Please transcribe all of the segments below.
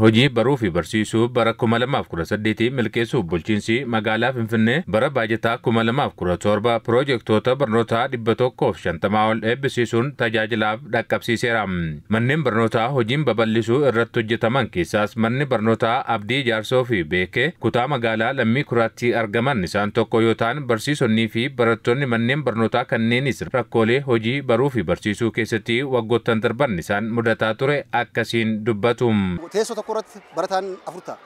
Hojii baruu fi barsiisuu bara 2018 milkeessuuf bulchiinsi magaalaa Finfinnee bara baajataa 2017 piroojektoota barnootaa 150 ol eebbisiisuun tajaajilaaf dhaqqabsiiseera. Manneen barnootaa hojiin babal'isuu irratti hojjetaman keessaas manni barnootaa Abdii Ijaarsoo fi Beekee kutaa magaalaa Lammii Kuraatti argaman isaan tokko yoo ta'an barsiisonnii fi barattoonni manneen barnootaa kanneenis rakkoolee hojii baruufi barsiisuu keessatti waggoottan darban isaan mudataa ture akkasiin dubbatu. Teessoo tokko irratti barataan afur ta'a,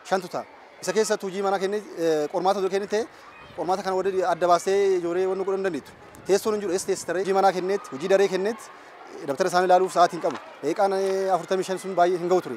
shantu ta'a. Isa keessa utuu hojii manaa kennee qormaata utuu kennin ta'e qormaata kana waliin adda baastee ijoollee wanni godhuu hin dandeettu. Teessoon hin jiru eessa teessisa ree? Hojii manaa kenneetti, hojii daree kenneetti dabtara isaanii ilaaluuf sa'aatii hin qabu. Daqiiqaan afurtamii shan sun baay'ee hin ga'u ture.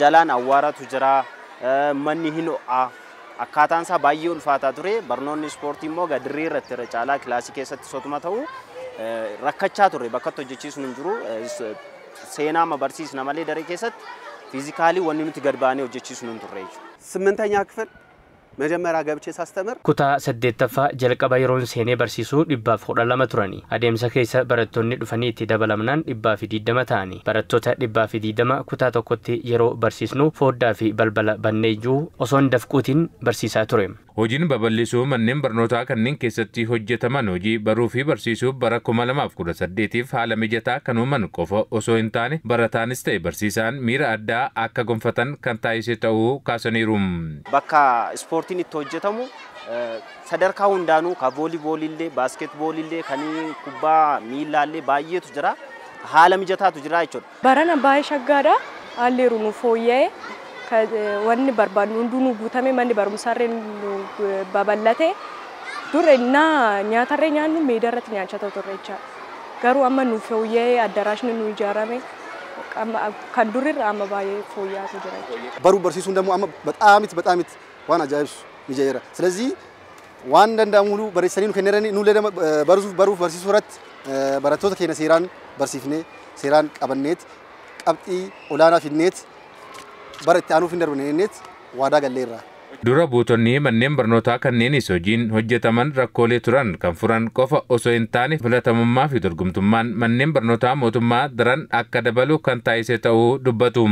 Jalaan awwaaratu jira, manni hin ho'a. Akkaataan isaa baay'ee ulfaataa ture. Barnoonni ispoortii immoo egaa dirree irratti irra caalaa kilaasii keessattis otuma ta'u rakkachaa turre bakkatti hojjechiisnu hin jiru. Seenaa amma barsiisna malee daree keessatti fiizikaalii wanni nuti gad baanee hojjechiisnu hin turre jechuudha. ስምንተኛ ክፍል Mejemeraa gabchee sastemir. Kutaa saddeettaffaa jalqaba yeroon seenee barsiisu dhibbaaf kudha lama turani. Adeemsa keessa barattonni dhufanii itti dabalamnaan dhibbaafi digdama ta'ani. Barattoota dhibbaafi digdama kutaa tokkotti yeroo barsiisnu fooddaafi balbala banneeyyuu osoon dafquutiin barsiisaa ture. Hojiin babal'isuu manneen barnootaa kanneen keessatti hojjetaman hojii baruufi barsiisuu bara kuma lamaa fi kudha saddeetiif haala mijataa kan uuman qofa osoo hintaane barataanis ta'e barsiisaan miira addaa akka gonfatan kan taasise ta'uu kaasaniiru. Bakka ispoortiin itti hojjetamu sadarkaa hundaanuu ka vooliibooliillee, baaskeetbooliillee, kan kubbaa miillaallee baay'eetu jira. Haala mijataatu jira jechuudha. Barana baay'ee shaggaadha. Haalli jiru nuuf fooyya'e. Wanni barbaadnu hunduu nuu guutame. Manni barumsaallee nuu babal'ate. Dur ennaa nyaatallee nyaannu meedaarratti nyaachaa turre jechaadha. Garuu amma nuuf fooyya'ee addaraashni nuu ijaarame. kan durirra amma baay'ee fooyya'atu jira jechuudha. Baruu barsiisuun dammoo amma baxaamit baxaamit waan ajaa'ibsu mijayeera. Silazii waan danda'amu hunduu barreessanii nu kenneranii nullee dama barsuuf baruuf barsiisuu irratti barattoota keenya seeraan barsiifnee seeraan qabanneet qabxii olaanaa fidneet bara itti aanuuf hin darbanneet waadaa galleerra. Dura buutonni manneen barnootaa kanneenis hojiin hojjetaman rakkoolee turan kan furan qofa osoo hin taane filatamummaafi dorgomtummaan manneen barnootaa mootummaa daran akka dabalu kan taasise ta'uu dubbatu.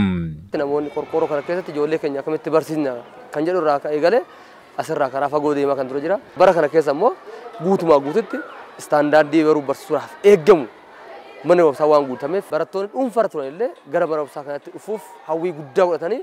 Namoonni qorqoorroo kana keessatti ijoollee keenya akkamitti barsiisna kan jedhu irraa kan eegale asirraa karaa fagoo deemaa kan ture jira. Bara kana keessa immoo guutumaa guututti istaandaardii baruuf barsiisuudhaaf eegamu mana barumsaa waan guutameef barattoonni dhuunfaarra turan illee gara mana barumsaa kanatti dhufuuf hawwii guddaa godhatanii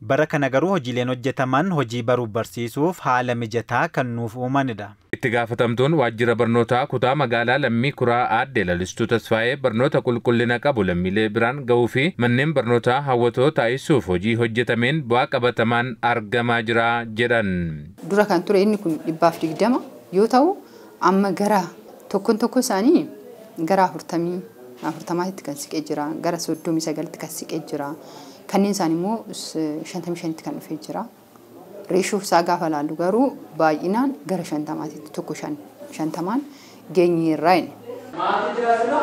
Bara kana garuu hojiileen hojjetaman hojii baruuf barsiisuuf haala mijataa kan nuuf uumanidha. Itti gaafatamtuun waajjira barnootaa kutaa magaalaa Lammii Kuraa aadde Lalistuu Tasfaayee barnoota qulqullina qabu lammiilee biraan gahuu fi manneen barnootaa hawwatoo taasisuuf hojii hojjetameen bu'aa qabatamaan argamaa jira jedhan. Dura kan ture inni kun 20% yoo ta'u, Amma gara tokkon tokkoo isaanii gara afurtamii afurtamaatitti kan siqe jira, gara soddomii sagalitti kan siqe jira, kanneen isaanii immoo shantamii shanitti kan dhufe jira. Reeshoo isaa gaafa ilaallu garuu baay'inaan gara shantamaatitti tokko shan shantamaan geenyeerra. Maatii jiraatudha.